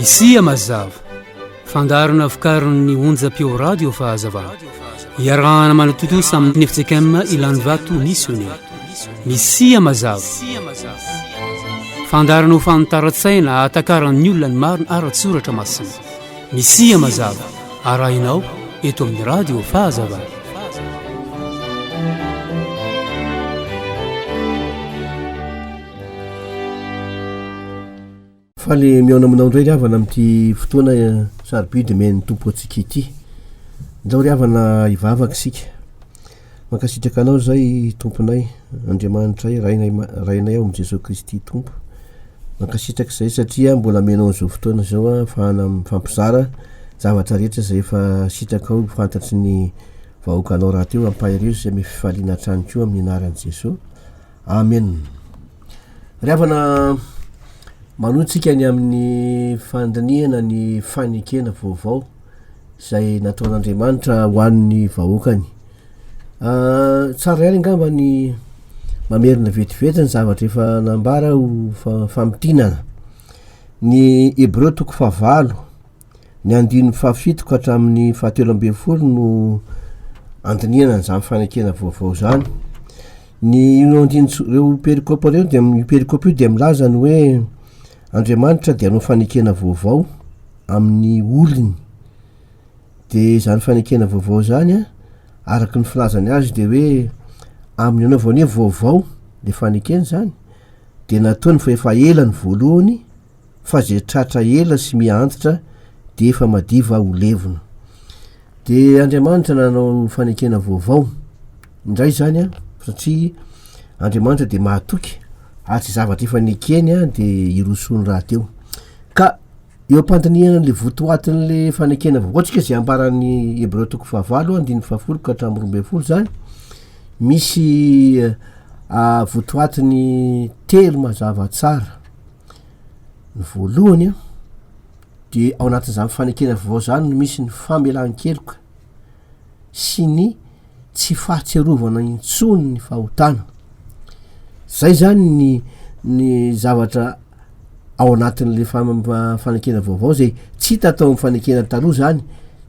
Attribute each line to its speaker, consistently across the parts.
Speaker 1: Misia mazava, fandaharana vokarin'ny onjam-peo radio Fahazavana. Iarahana manatontosa amin'ny FJKM Ilanivato Missionnaire. Misia mazava. Fandaharana ho fanitaran-tsaina ahatakaran'ny olona ny marina ara-tsoratra masina. Misia mazava arahinao eto amin'ny Radio Fahazavana.
Speaker 2: Faly mihaona aminao indray ry havana amin'ity fotoana eh, sarobidy omen'ny Tompo antsika ity. Ndao ry havana hivavaka isika. Mankasitraka anao zay tomponay Andriamanitray rainay rainay ao am Jesosy Kristy Tompo mankasitraka zay satria mbola amenao anizao fotoana zao afahana mifampizara zavatra rehetra zay efa sitrakao fantatry ny vahoakanao rahateo ampaherezo zay amy fifaliana hatrany koa amy anaran Jesosy Amen Ry havana manoa tsika ny amy ny fandinihana ny fanekena vaovao izay nataon'Andriamanitra ho an'ny vahoakany. Tsara ihany angamba ny mamerina vetivety ny zavatra efa nambara ho famintinana. Ny Hebreo toko fahavalo, ny andininy fahafito ka hatramin'ny fahatelo ambin'ny folo no andinihana an'izany fanekena vaovao izany. Ny io andininy ireo perikopa ireo dia io perikopa io dia milaza ny hoe Andriamanitra dia hanao fanekena vaovao amin'ny olony. Dia izany fanekena vaovao izany a, araka ny filazany azy dia hoe amin'ny anaovany hoe vaovao dia fanekena izany, dia nataony fa efa ela ny voalohany fa izay tratra ela sy miha antitra dia efa madiva ho levona. Dia Andriamanitra nanao fanekena vaovao. indray izany an, satria Andriamanitra dia mahatoky ary tsy zavatra efa nekeny dia hirosoa ny rahateo. Ka eo am-pandinihana an'ilay votoatin'ilay fanekena vaovao antsika izay ambaran'ny Hebreo toko fahavalo andininy fahafolo ka hatramin'ny roa ambin'ny folo izany, misy ah, votoatiny telo mazava tsara. Ny voalohany an, dia ao anatin'izany fanekena vaovao izany no misy ny famelan-keloka. sy ny tsy fahatsiarovana intsony ny fahotana. Zay zany ny ny zavatra ao anatin'le fanekena vaovao zay tsy hita tao amin'ny fanekena taloha zany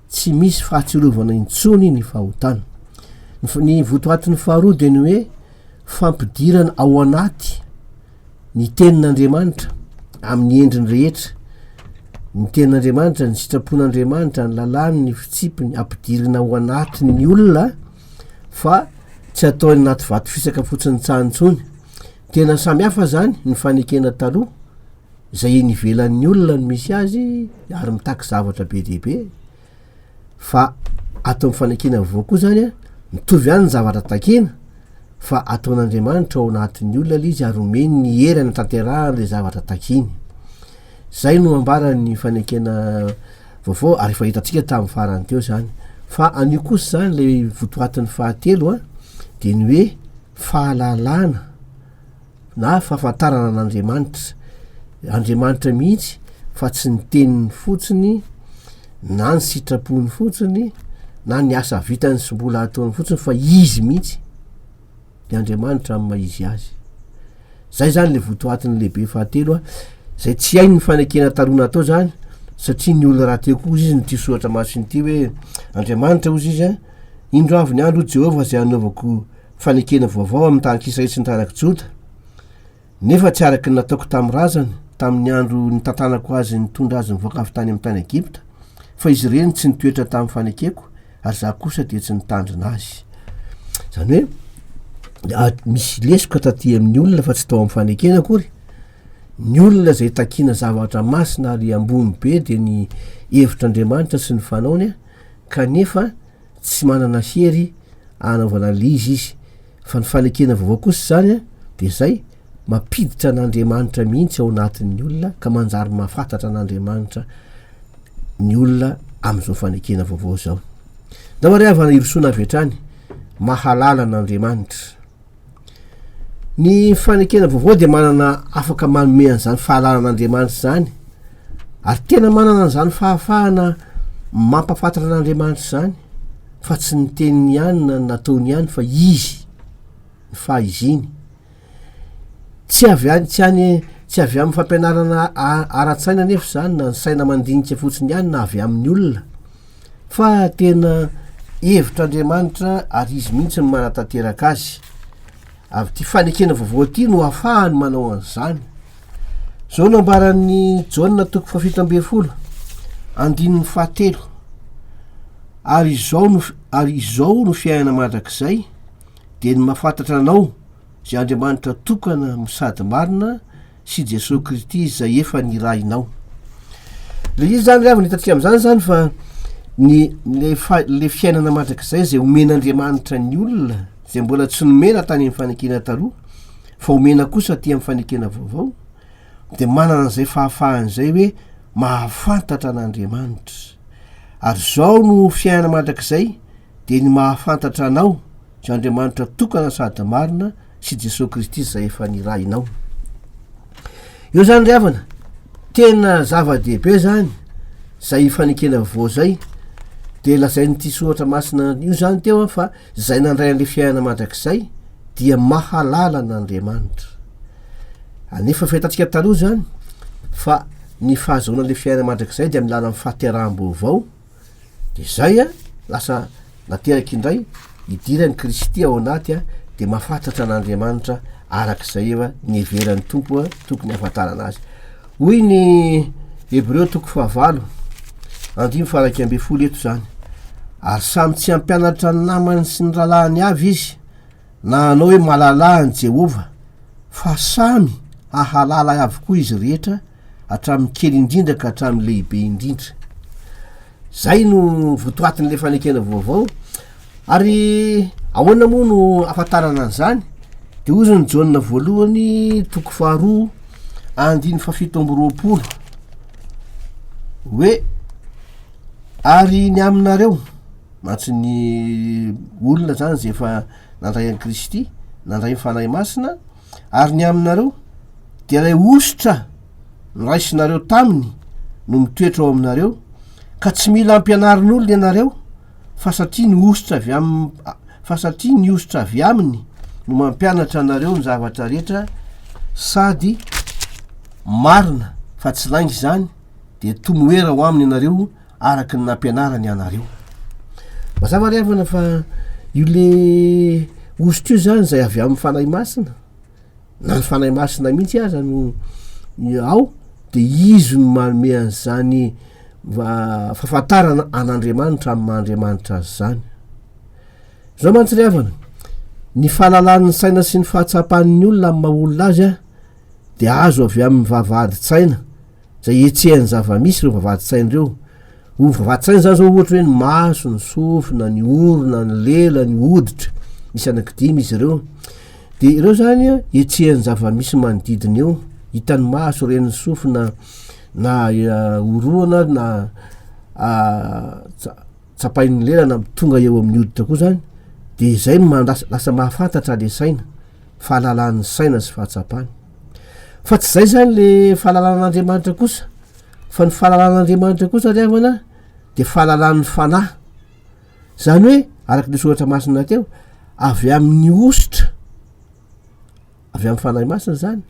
Speaker 2: tsy misy fahatsiarovana intsony ny fahotana. Ny votoatin'ny faharoa dia ny hoe fampidirana ao anaty Ny Tenin'Andriamanitra, amin'ny endriny rehetra. Ny Tenin'Andriamanitra, ny sitrapon'Andriamanitra, ny lalàny, ny fitsipiny, ampidirina ao anatin'ny olona fa tsy atao any anaty vato fisaka fotsiny tsahany intsony. Tena samy hafa izany ny fanekena taloha, izay eny ivelan'ny olona no misy azy ary mitaky zavatra be dia be. fa ato amin'ny fanekena vaovao koa izany an, mitovy ihany ny zavatra takina, fa ataon'Andriamanitra ao anatin'ny olona ilay izy ary omeny ny hery hanatanterahany ilay zavatra takiny. Izay no ambaran'ny fanekena vaovao ary efa hitantsika tamin'ny farany teo izany. Fa an'io kosa izany ilay votoatin'ny fahatelo an, dia ny hoe fahalalana na fahafantarana an'Andriamanitra, Andriamanitra mihitsy fa tsy ny teniny fotsiny na ny sitrapony fotsiny na ny asa vitany sy mbola ataony fotsiny fa izy mihitsy ny Andriamanitra amin'ny maha izy azy. Zay zany le votoatiny lehibe fahatelo a, zay tsy hainy ny fanekena taloha natao zany satria ny olona rahateo koa izy ny tia soratra masina ity hoe Andriamanitra hozy izy a, indro avy ny andro Jehovah zay anaovako fa nekena vaovao amin'ny tahan-k'Israely sy ny taranak'i Joda, nefa tsy araka ny nataoko tamin'ny razany, tamin'ny andro nitantanako azy nitondra azy nivoaka avy tany amin'ny tany Egypta, fa izy ireny tsy nitoetra tamin'ny fanekeko, ary za kosa dia tsy nitandrina azy. Izany hoe, misy lesoka taty amin'ny olona fa tsy tao amin'ny fanekena akory, ny olona izay takina zavatra masina ary ambony be dia ny hevitr'Andriamanitra sy ny fanaony, kanefa tsy manana hery anaovana an'l'izy izy, fa ny fanekena vaovao kosa izany dia izay mampiditra an'Andriamanitra mihitsy ao anatin'ny olona ka manjary mahafantatra an'Andriamanitra ny olona amin'izao fanekena vaovao izao. Namariavana hirosoana avy hatrany, mahalala an'Andriamanitra. Ny fanekena vaovao dia manana afaka manome an'izany fahalalan'Andriamanitra izany, ary tena manana an'izany fahafahana mampahafantra an'Andriamanitra izany, fa tsy ny teniny ihany na ny nataony ihany fa izy, ny fahaiziny. Tsy avy any, tsy any, tsy avy amin'ny fampianarana ara-tsaina anefa izany na ny saina mandinika fotsiny ihany na avy amin'ny olona. fa tena hevitr'Andriamanitra ary Izy mihitsy no manatanteraka azy. Avy ity fanekena vaovao ity no afahany manao an'izany. Izao no ambaran'ny Jaona toko fafito ambin'ny folo, andininy fahatelo. Ary izao no, ary izao no fiainana mandrakizay, dia ny mafantatra anao, izay Andriamanitra tokana sady marina, sy Jesoa Krity izay efa nirahinao. Le izy zany avy nitatsika amin'izany zany fa ny le fa le fiainana mandrakizay izay omen'Andriamanitra ny olona izay mbola tsy nomena tany amin'ny fanekena taloha fa omena kosa aty amin'ny fanekena vaovao de manana an'izay fahafahana izay hoe mahafantatra an'Andriamanitra ary zao no fiainana mandrakizay de ny mahafantatra anao Io Andriamanitra tokana sady marina sy Jesoa Kristy izay efa nirahinao. Eo zany ry havana, tena zava-dehibe zany zay fanekena voa zay dia lazain'ity soratra masina io zany teo an fa zay nandray an'ilay fiainana mandrakizay dia mahalala an'Andriamanitra. Anefa fahitatsika taloha zany fa ny fahazoana ilay fiainana mandrakizay dia amin'ny lalan'ny fahateraham-baovao de zay a lasa nateraka indray idiran'i Kristy ao anaty a de mahafatatra an'Andriamanitra arak'izay eva niheveran'ny Tompo a tokony hahafantarana azy hoy ny Hebreo toko fahavalo andrimo faraika ambin'ny folo eto zany ary samy tsy hampianatra ny namany sy ny rahalahiny avy izy na hanao hoe malalà an'i Jehovah, fa samy hahalala ahy avokoa izy rehetra, hatramin'ny kely indrindra ka hatramin'ny lehibe indrindra. Izay no votoatin'ilay fanekena vaovao. Ary ahoana moa no afantarana an'izany? Dia hoy izany Jaona voalohany toko faharoa andiny fafito amby roapolo hoe ary ny aminareo Matso ny olona zany ze efa nandray an'i Kristy, nandray ny Fanahy Masina, ary ny aminareo dia ilay hosotra noraisinareo taminy no mitoetra ao aminareo, ka tsy mila ampianarin'olona ianareo, fa satria ny hosotra avy am fa satria ny hosotra avy aminy no mampianatra anareo ny zavatra rehetra sady marina fa tsy lainga izany, dia tomoera ho aminy ianareo araka ny nampianarany anareo. Mazava ry havana fa io le host io zany zay avy amin'ny fanahy masina na ny fanahy masina mihitsy aza no ao de izy no manome an'izany fahafantarana an'Andriamanitra amin'ny maha Andriamanitra azy zany. Zao mantsy ry havana, ny fahalalan'ny saina sy ny fahatsapan'ny olona amin'ny maha olona azy dia azo avy amin'ny vavahadin-tsaina. izay ihetsehan'ny zava-misy ireo vavahadin-tsaina ireo. Ho vavahadin-tsaina izany izao ohatra hoe ny maso, ny sofina, ny orona, ny lela, ny hoditra, misy anakidimy izy ireo. Dia ireo izany ihetsehan'ny zava-misy manodidina eo, hitan'ny maso, ren'ny sofina na eh, oroana na ah, tsapain'ny lela na tonga eo amin'ny hoditra koa izany, dia izay no lasa mahafantatra le saina, fahalalan'ny saina sy fahatsapany. Fa tsy izay izany le fahalalan'Andriamanitra kosa, fa ny fahalalan'Andriamanitra kosa ry havana dia fahalalan'ny fanahy, izany hoe araka ny soratra masina teo avy amin'ny ositra avy amin'ny fanahy masina izany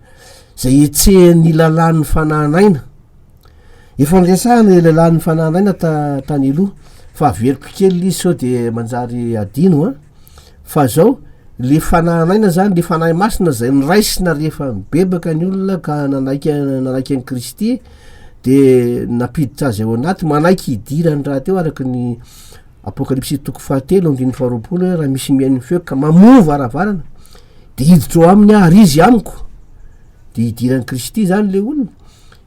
Speaker 2: izay etsehan'ny lalàn'ny fanahinaina. Efa niresahana ilay lehilahy nifanahy anay na ta, tany aloha fa averiko kely ilay izy sao dia manjary adino an! fa zao, le fanahy an'aina zany, le fanahy masina izay noraisina rehefa nibebaka ny olona ka nanaiky an, nanaiky an'i Kristy dia nampiditra azy ao anaty, manaiky hidirany rahateo araka ny Apokalypsy toko fahatelo andininy faharoapolo hoe raha misy mihaino ny feoko ka mamoha ny varavarana dia hiditra ao aminy aho ary izy amiko dia hidiran'i Kristy zany le olona,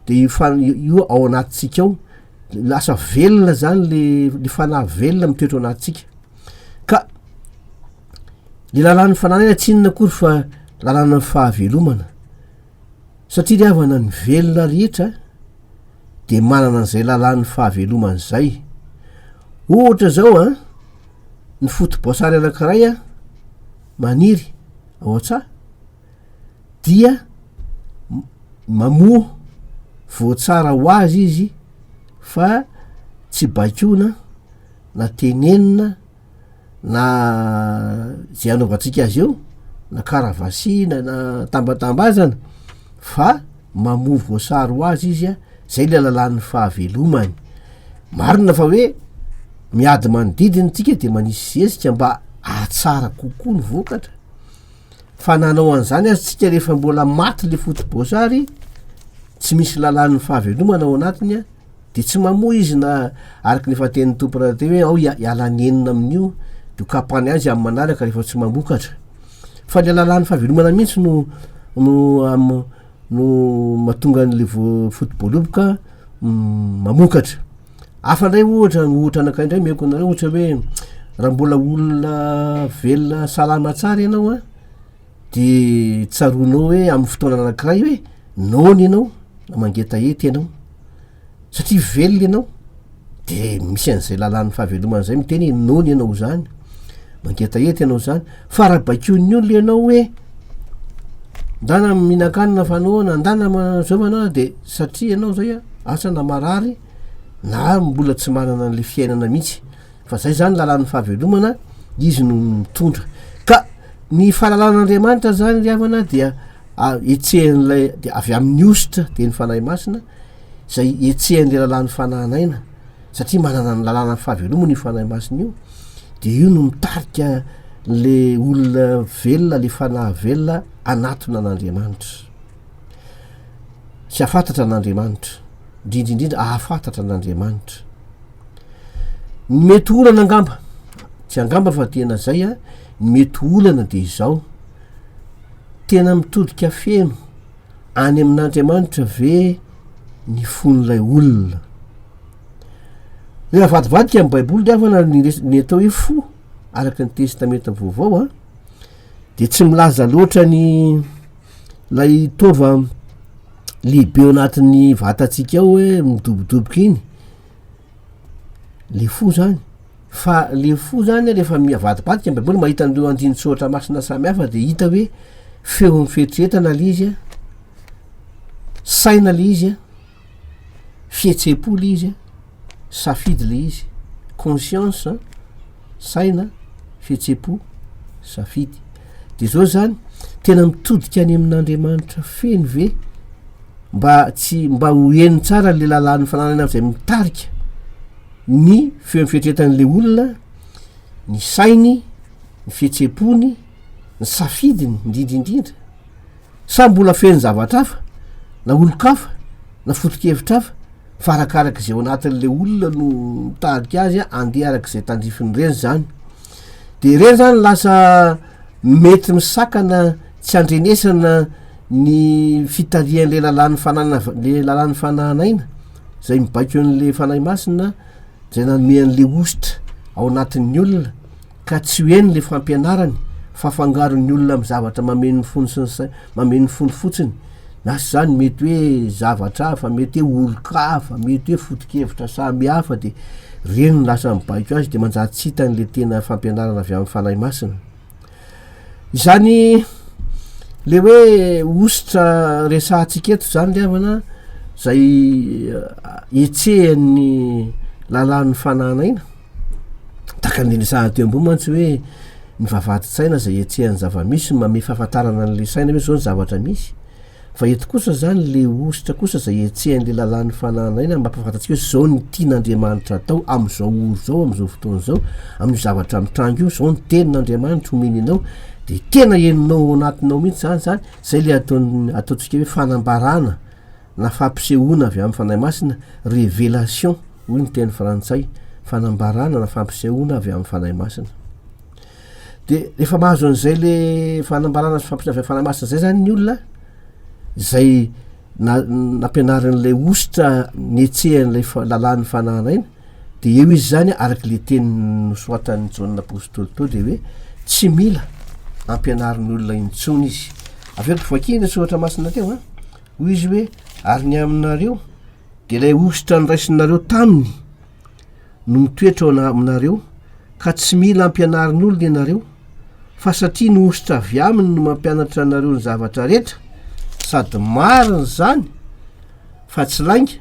Speaker 2: dia io fanahy io io ao anatintsika ao lasa velona zany le le fanahy velona mitoetra ao anatintsika ka le lalàn'ny fanahy iny tsy inona akory fa lalàna fahavelomana satria ry havana ny velona rehetra de manana an'izay lalàn'ny fahavelomana izay ohatra zao an ny foto-boasary anankiray an maniry ao an-tsaha dia mamoa voatsara ho azy izy fa tsy baikona na tenenina na zay anaovantsika azy eo na karavasina na tambatambazana fa mamoa voasary ho azy izy a zay le lalan'ny fahavelomany marina fa hoe miady manodidina tsika de manisy zezika mba ahatsara kokoa ny vokatra fa na hanao an'izany aza tsika rehefa mbola maty le fotoboasary tsy misy lalan'ny fahavelomana ao anatiny a de tsy mamoa izy na araka ny efa tenin'ny tompo rahateo hoe ao hiala ny enina amin'io de ho kapany azy amin'ny manaraka rehefa tsy mamokatra fa le lalan'ny fahavelomana mihitsy no no am no mahatonga an'le vo- fotoboaloboka mamokatra Hafa indray ohatra, ohatra anankiray indray omeko anareo, ohatra hoe raha mbola olona velona salama tsara ianao an, dia tsaroanao hoe amin'ny fotoana anankiray hoe noana ianao na mangetaheta ianao, satria velona ianao dia misy an'izay lalàn'ny fahavelomana izay miteny hoe noana ianao izany, mangetaheta ianao izany, fa raha baikoin'ny olona ianao hoe ndana mihinan-kanina fa noana, ndana manao izao fa noana dia. Satria ianao izay a, asa na marary na mbola tsy manana an'ilay fiainana mihitsy, fa izay izany lalàn'ny fahavelomana, Izy no mitondra. Ka ny fahalalan'Andriamanitra izany ry havana dia etsehan'ilay, dia avy amin'ny hosotra, dia ny Fanahy Masina, izay etsehan'ilay lalàn'ny fanan'aina, satria manana ny lalànan'ny fahavelomana io Fanahy Masina io, dia io no mitarika ilay olona velona, ilay fanahy velona hanatona an'Andriamanitra. tsy hafantatra an'Andriamanitra, indrindra indrindra ahafantatra an'Andriamanitra. Ny mety olana angamba, tsy angamba fa tena zay a, ny mety olana de izao, tena mitodika feno any amin'Andriamanitra ve ny fon'ilay olona? Ny avadibadika amin'ny baiboly de avana ny res- ny atao hoe fo araka ny testamenta vaovao a, de tsy milaza loatra ny. Ilay taova lehibe ao anatin'ny vatantsika ao hoe midobodoboka iny, le fo zany, fa le fo zany rehefa mihavadim-badika ny baiboly mahita an'ireo andinin-tsoratra masina samy hafa dia hita hoe feon'ny fieritreretana le izy an, saina le izy an. fihetsem-po ilay izy an, safidy ilay izy, conscience an, saina, fihetsem-po, safidy. Dia izao izany, tena mitodika any amin'Andriamanitra feno ve mba tsy mba ho heno tsara ilay lalàn'ny fananana izay mitarika ny feo fihentretan'ilay olona, ny sainy, ny fihetsem-pony, ny safidiny indrindra indrindra. Sa mbola feno zavatra hafa, na olon-kafa, na foto-kevitra hafa, fa arakaraka izay ao anatin'ilay olona no mitadika azy handeha araka izay tandrifin'ireny izany. Dia ireny izany lasa mety misakana tsy andrenesana ny fitarihan'ilay lalàn'ny fanana ilay lalàn'ny fanahan'aina izay mibaiko an'ilay Fanahy Masina izay nanome an'ilay hosotra ao anatin'ny olona ka tsy ho eny le fampianarany fa afangaron'ny olona amin'ny zavatra mameno ny fony sy ny sainy, mameno ny fony fotsiny na sy zany mety hoe zavatra hafa mety hoe olon-ka hafa mety hoe foto-kevitra samy hafa dia reny no lasa mibaiko azy dia manjary tsy hitany le tena fampianarana avy amin'ny fanahy masina izany le hoe ositra resahantsika eto zany le havana zay etsehan'ny lalan'ny fanan'aina Takan'ny resahana teo ambony mantsy hoe ny vavahadin-tsaina izay ihetsehan'ny zava-misy no manome fahafantarana an'ilay saina hoe izao ny zavatra misy. Fa eto kosa izany, ilay hosotra kosa izay ihetsehan'ilay lalàn'ny fanahana aina no mampahafantatsika hoe izao no tian'Andriamanitra hatao amin'izao ora izao, amin'izao fotoana izao, amin'io zavatra mitranga io, izao ny tenin'Andriamanitra omeny anao, dia tena henonao ao anatinao mihitsy izany izany, izay ilay ataon'ny, ataontsika hoe fanambarana na fampisehoana avy amin'ny Fanahy Masina, révélation hoy ny teny frantsay, fanambarana na fampisehoana avy amin'ny Fanahy Masina. Dia rehefa mahazo an'izay le fanambarana sy fampisehoana avy amin'ny Fanahy Masina izay zany ny olona, izay na- nampianarin'ilay hosotra nihetsehan'ilay fa- lalàn'ny fanahana iny, dia eo izy zany araka le teny nosoratan'i Jaona Apostoly teo dia hoe tsy mila ampianarin'ny olona intsony izy. Avy eo dia vakio le soratra masina teo an! Hoy izy hoe, Ary ny aminareo, dia ilay hosotra noraisinareo taminy no mitoetra ao aminareo, ka tsy mila ampianarin'olona ianareo, fa satria ny hosotra avy aminy no mampianatra anareo ny zavatra rehetra, sady marina izany fa tsy lainga,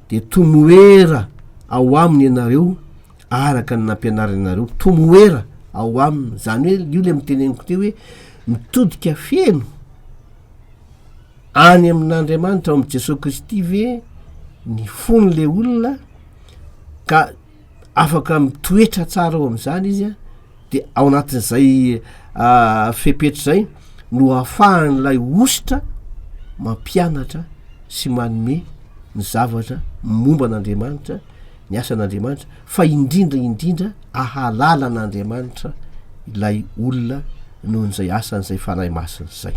Speaker 2: dia tomoera ao aminy ianareo araka ny nampianariny anareo tomoera ao aminy zany hoe io le miteneniko teo hoe mitodika feno any amin'andriamanitra ao amin'i jesosy kristy ve ny fony le olona ka afaka mitoetra tsara ao amin'izany izy a dia ao anatin'izay ah, fepetra izay no ahafahan'ilay ositra mampianatra sy manome ny zavatra momba an'andriamanitra ny asan'andriamanitra fa indrindra indrindra ahalala an'andriamanitra ilay olona noho n'izay asan'izay fanahy masina izay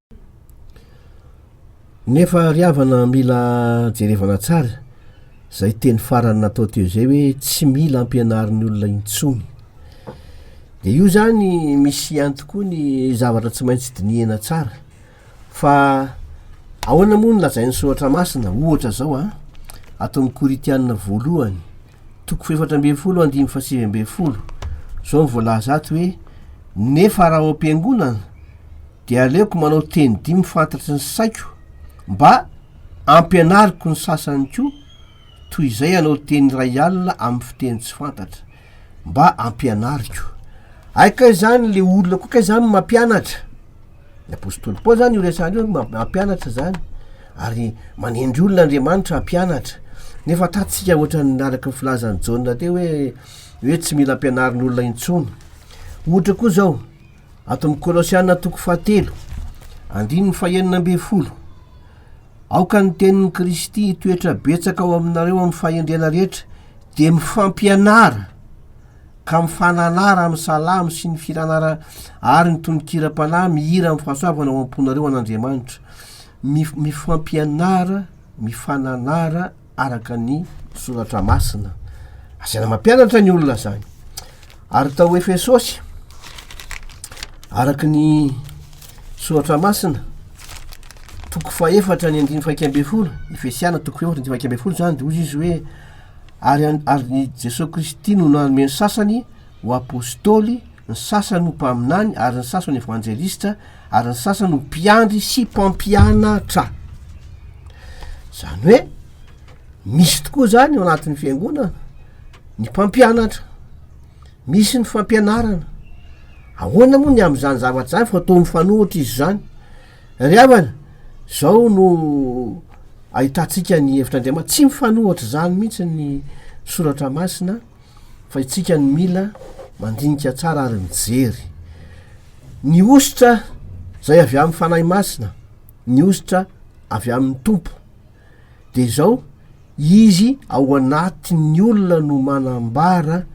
Speaker 2: Nefa ry havana mila jerevana tsara izay teny farany natao teo izay hoe tsy mila ampianarin'ny olona intsony. Dia io izany misy ihany tokoa ny zavatra tsy maintsy dinihana tsara fa ahoana moa ny lazain'ny soratra masina ohatra izao a ato amin'ny koritianina voalohany toko fefatra ambin'ny folo andimy fasivy ambin'ny folo izao ny voalaza ato hoe nefa raha ao am-piangonana dia aleoko manao teny dimy fantatry ny saiko mba ampianariko ny sasany koa toy izay anao teny iray alina amin'ny fiteny tsy fantatra mba ampianariko aika izany le olona koa ka izany mampianatra ny apôstôly paoly zany io resany io mampianatra zany ary manendry olona andriamanitra hampianatra nefa tatsika ohatra ny araka ny filazan'i jaona teo hoe hoe tsy mila ampianarin'olona intsony ohatra koa zao Ato amin'ny Kolosiana toko fahatelo, andininy fahenina ambin'ny folo, Aoka ny tenin'i Kristy hitoetra betsaka ao aminareo amin'ny fahendrena rehetra, dia mifampianara ka mifananara amin'ny salamo sy ny firanara ary ny tononkiram-panahy mihira amin'ny fahasoavana ao am-ponareo an'Andriamanitra. Mif- mifampianara, mifananara, araka ny soratra masina. Asaina mampianatra ny olona zany. Ary tao Efesosy, araka ny soratra masina, toko fahefatra ny andiny faikambey folo, Efesiana toko fahefatra ny faikambey folo zany, de ozy izy hoe, ary, ary ny Jesosy Kristy no nanome ny sasany ho apostoly, ny sasany ho mpaminany ary ny sasany evanjelistra ary ny sasany ho mpiandry sy mpampianatra zany hoe misy tokoa zany eo anatin'ny fiangonana ny mpampianatra misy ny fampianarana ahoana moa ny am'izany zavatra zany fa to mifanohitra izy zany ry havana zao no ahitantsika ny hevitr'andriamany tsy mifanohitra zany mihitsy ny soratra masina fa itsika no mila mandinika tsara ary mijery ny hosotra zay avy amin'ny fanahy masina ny hosotra avy amin'ny tompo de zao izy ao anatin'ny olona no manambara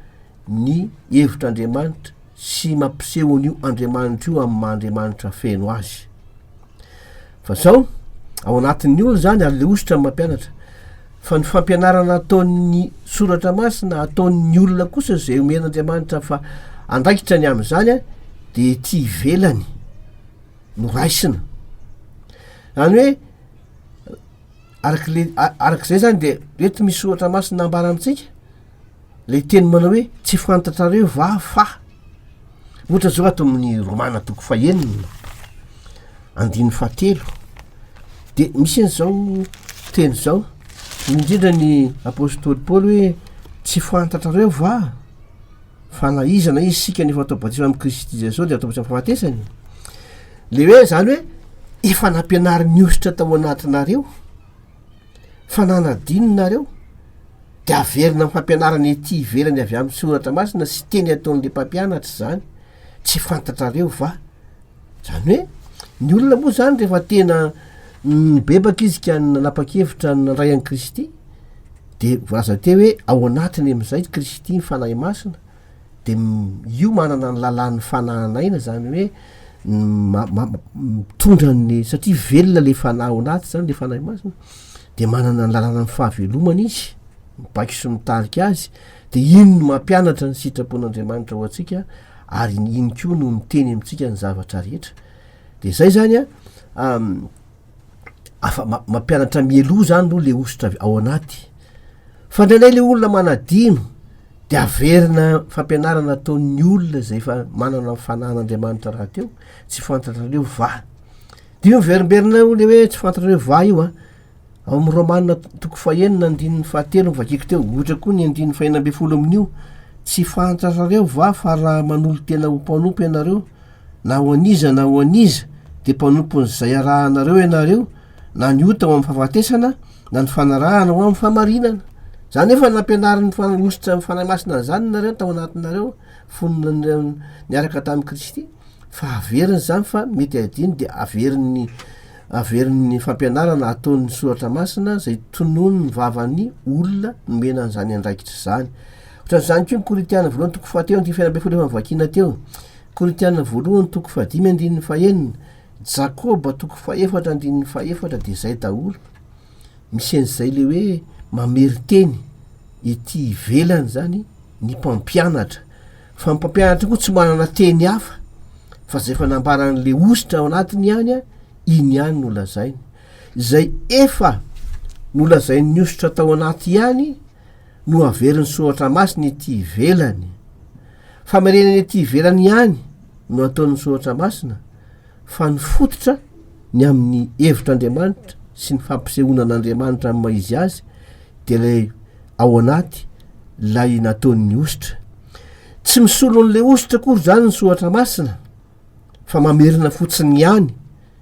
Speaker 2: ny hevitr'andriamanitra sy mampiseho an'io Andriamanitra io amin'ny maha Andriamanitra feno azy. Fa zao, ao anatin'ny olona zany ary le hosotra ny mampianatra. Fa ny fampianarana ataon'ny soratra masina ataon'ny olona kosa izay omen'Andriamanitra fa andraikitra ny amin'izany dia ety ivelany no raisina. Zany hoe arak'le arak'izay zany dia eto misy soratra masina ambara amintsika Ilay teny manao hoe tsy fantatrareo va fa. Ohatra izao ato amin'ny Romana toko fahenina andininy fahatelo dia misy eny izao teny izao indrindra ny apôstôly Paoly hoe tsy fantatrareo va fa na iza na iza isika ny efa atao batisa amin'i Kristy Jesosy dia atao batisa amin'ny fahafatesany. Ilay hoe izany hoe efa nampianarin'ny ositra tao anatinareo. fa na nadino nareo de averina am fampianarana ety ivelany avy am soratra masina sy teny ataonle mpampianatra izany tsy fantatrareo va zany hoe ny olona moa zany rehefa tena nibebaka izy ka nanapakevitra nandray an kristy de voalaza teo hoe ao anatiny amizay kristy ny fanahy masina de io manana ny lalàn'ny fanahin'aina zany hoe mitondra ny satria velona le fanahy ao anaty zany le fanahy masina de manana ny lalàna amin'ny fahavelomana izy mibaiko sy mitarika azy de iny no mampianatra ny sitrapon'andriamanitra ho antsika ary ny iny koa no miteny amintsika ny zavatra rehetra de zay zany a afa- ma- mampianatra mialoha zany aloha le hosotra avy ao anaty, fa ndraindray le olona manadino de averina fampianarana ataon'ny olona zay efa manana ny fanahin'Andriamanitra rahateo, tsy fantatrareo va, de io miverimberina eo le hoe tsy fantatrareo va io an, ao amin'ny Romana to- toko fahenina andininy fahatelo no vakiko teo, ohatra koa ny andininy fahenina amby folo amin'io, tsy fantatrareo va fa raha manolo-tena ho mpanompo ianareo, Na ho an'iza na ho an'iza dia mpanompon'izay arahanareo ianareo, na ny ota ho amin'ny fahafatesana, na ny fanarahana ho amin'ny fahamarinana. Izany efa nampianarin'ny Fanahy-hosotra amin'ny Fanahy Masina an'izany nareo tao anatinareo fony niaraka tamin'i Kristy, fa averiny izany fa mety adino dia averin'ny averin'ny fampianarana ataon'ny Soratra Masina izay tononin'ny vavan'ny olona nomena an'izany andraikitra izany. Ohatran'izany koa ny Korintiana voalohany toko fahatelo andininy fahefana ambin'ny folo efa novakiana teo. Korintiana voalohany toko fahadimy andininy fahenina, Jakoba toko fahefatra andininy fahefatra dia zay daholo, misy an'izay le hoe mameriteny ety ivelany zany ny mpampianatra, fa ny mpampianatra koa tsy manana teny hafa fa zay efa nambaran'le hosotra ao anatiny ihany a, iny ihany no lazainy, zay efa nolazain'ny hosotra tao anaty ihany no averin'ny soratra masina ety ivelany. Famerenany ety ivelany ihany no ataon'ny soratra masina fa ny fototra ny amin'ny hevitr'Andriamanitra sy ny fampisehoana an'Andriamanitra amin'ny maha izy azy dia ilay ao anaty ilay nataon'ny hosotra. Tsy misolo an'ilay hosotra akory izany ny soratra masina fa mamerina fotsiny ihany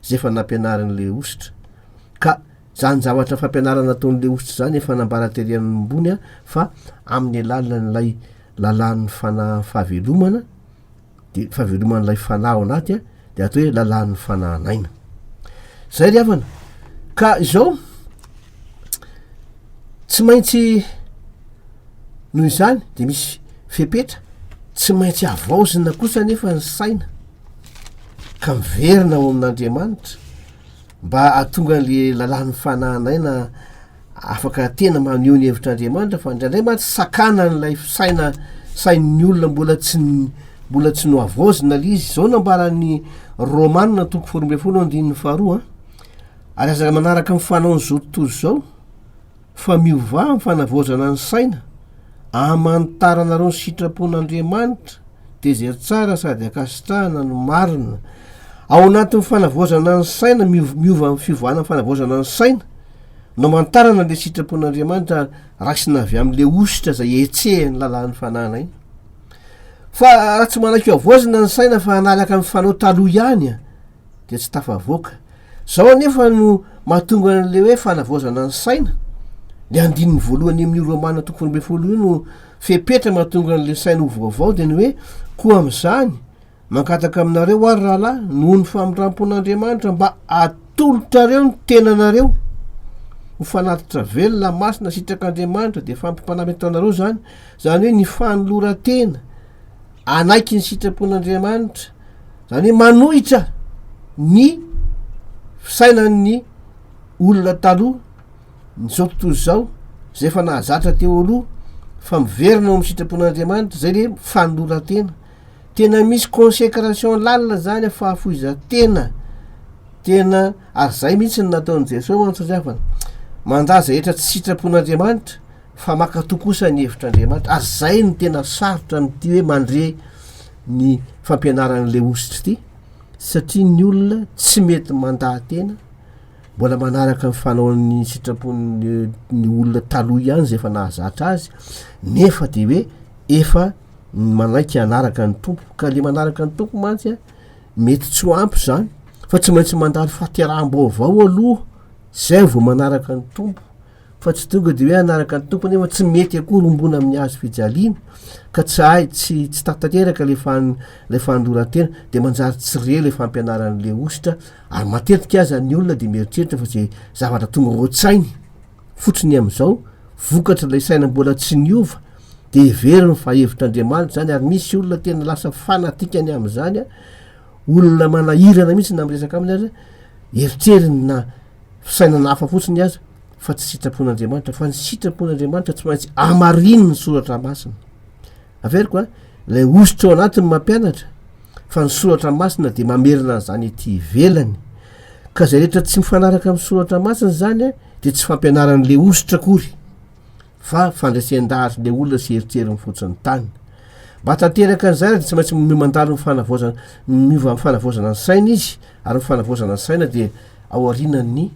Speaker 2: izay efa nampianarin'ilay hosotra. Ka izany zavatra fampianarana ataon'ilay hosotra izany efa nambara tery ambony fa amin'ny alalan'ilay lalàn'ny fanahy fahavelomana dia fahaveloman'ilay fanahy ao anaty a dia atao hoe lalàn'ny fanahin'aina zay ry havana ka izao tsy maintsy noho izany de misy fepetra tsy maintsy avaozina kosa nefa ny saina ka miverina ao amin'andriamanitra mba atonga an'le lalàn'ny fanahin'aina Afaka tena maneho ny hevitr'Andriamanitra fa indraindray mantsy sakana an'ilay fisaina sain'ny olona mbola tsy mbola tsy nohavaozina ilay izy. Izao nambaran'ny Romana toko faharoa ambin'ny folo andininy faharoa ary aza manaraka amin'ny fanaon'izao tontolo izao fa miovà amin'ny fanavaozana ny saina amanitaranareo ny sitrapon'Andriamanitra dia izay tsara sady ankasitrahana no marina. Ao anatin'ny fanavaozana ny saina miova amin'ny fiovana ny fanavaozana ny saina Nomantarana le sitrapon'Andriamanitra raisina avy amin'le ositra izay hetsehan'ny lalàn'ny fanahana iny. Fa raha tsy manaiky havaozina ny saina fa hanaraka ny fanao taloha ihany a dia tsy tafavoaka. Zao anefa no mahatonga an'le hoe fanavaozana ny saina. Le andininy voalohany amin'ny Romana toko faharoa ambin'ny folo io no fepetra mahatonga an'le saina ho vaovao dia ny hoe koa amin'izany Mangataka aminareo ary rahalahy noho ny famindrampon'Andriamanitra mba atolotrareo ny tenanareo ho fanatitra velona masina sitrak'Andriamanitra dia fampimpanana hitanareo zany zany hoe ny fanoloran-tena anaiky ny sitrapon'Andriamanitra zany hoe manohitra ny fisainan'ny olona taloha nyzao tontolo izao zay efa nahazatra teo aloha fa miverina ao amin'ny sitrapon'Andriamanitra zay le fanoloran-tena tena misy consécration lalina zany a fahafoizan-tena tena ary zay mihitsy ny nataon'i Jesoa mantsy ry havana mandà zay rehetra tsy sitrapon'Andriamanitra fa mankatoa kosa ny hevitr'Andriamanitra ary zay no tena sarotra amin'ity hoe mandre ny fampianaran'ilay hositry ity satria ny olona tsy mety mandà tena mbola manaraka ny fanaon'ny sitrapon'ny ny olona taloha ihany zay efa nahazatra azy nefa dia hoe efa ny manaiky hanaraka ny tompo ka le manaraka ny tompo mantsy a mety tsy ho ampy zany fa tsy maintsy mandalo fahateraham-baovao aloha zay vao manaraka ny tompo fa tsy tonga de hoe anaraka ny tompo nefa tsy mety akoa rombona amin'ny azo fijaliana ka tsy ahy tsy tsy tatateraka le fan le fandorantena de manjary tsy re le fampianaran'le ositra ary matetika aza ny olona de mieritreritra fa zay zavatra tonga ao an-tsainy Fototry ny amin'izao, vokatr'ilay saina mbola tsy niova, dia heveriny fa hevitr'Andriamanitra izany, ary misy olona tena lasa fanatikany amin'izany, olona manahirana mihitsy na miresaka aminy aza, eritreriny na fisainana hafa fotsiny aza fa tsy sitrapon'Andriamanitra, fa ny sitrapon'Andriamanitra tsy maintsy amarininy ny soratra masina. Averiko a, ilay hosotra ao anatiny mampianatra, fa ny soratra masina dia mamerina an'izany ety ivelany. Ka izay rehetra tsy mifanaraka amin'ny soratra masina izany dia tsy fampianaran'i Leositra akory fa fandresen-dahatra ilay olona sy eritreriny fotsiny tany. Mba tanteraka an'izany dia tsy maintsy mino mandalo ny fanavaozana, miova amin'ny fanavaozana ny saina izy ary ny fanavaozana ny saina dia ao aorianan'ny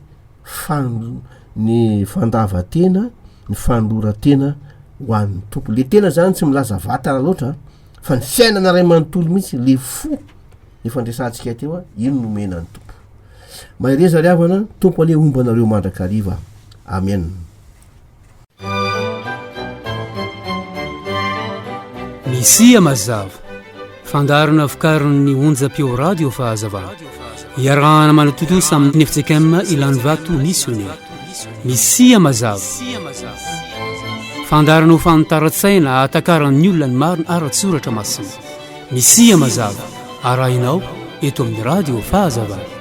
Speaker 2: fan, ny fandavan-tena, ny fanoloran-tena ho an'ny Tompo. Ilay tena izany tsy milaza vatana loatra fa ny fiainana iray manontolo mihitsy, ilay fo. efa ndresantsika teo a ino no omena ny tompo mahereza ry havana tompo anie homba anareo mandrakariva amen
Speaker 1: misia mazava fandarana vokarin'ny onjam-peo radio fahazavana iarahana manatontosa amin'ny nefjekm ilany vato missionnaire misia mazava fandarana ho fanitaran-tsaina atakaran'ny olona ny marina ara-tsoratra masina Misia mazava arahinao eto amin'ny Radio Fahazavana.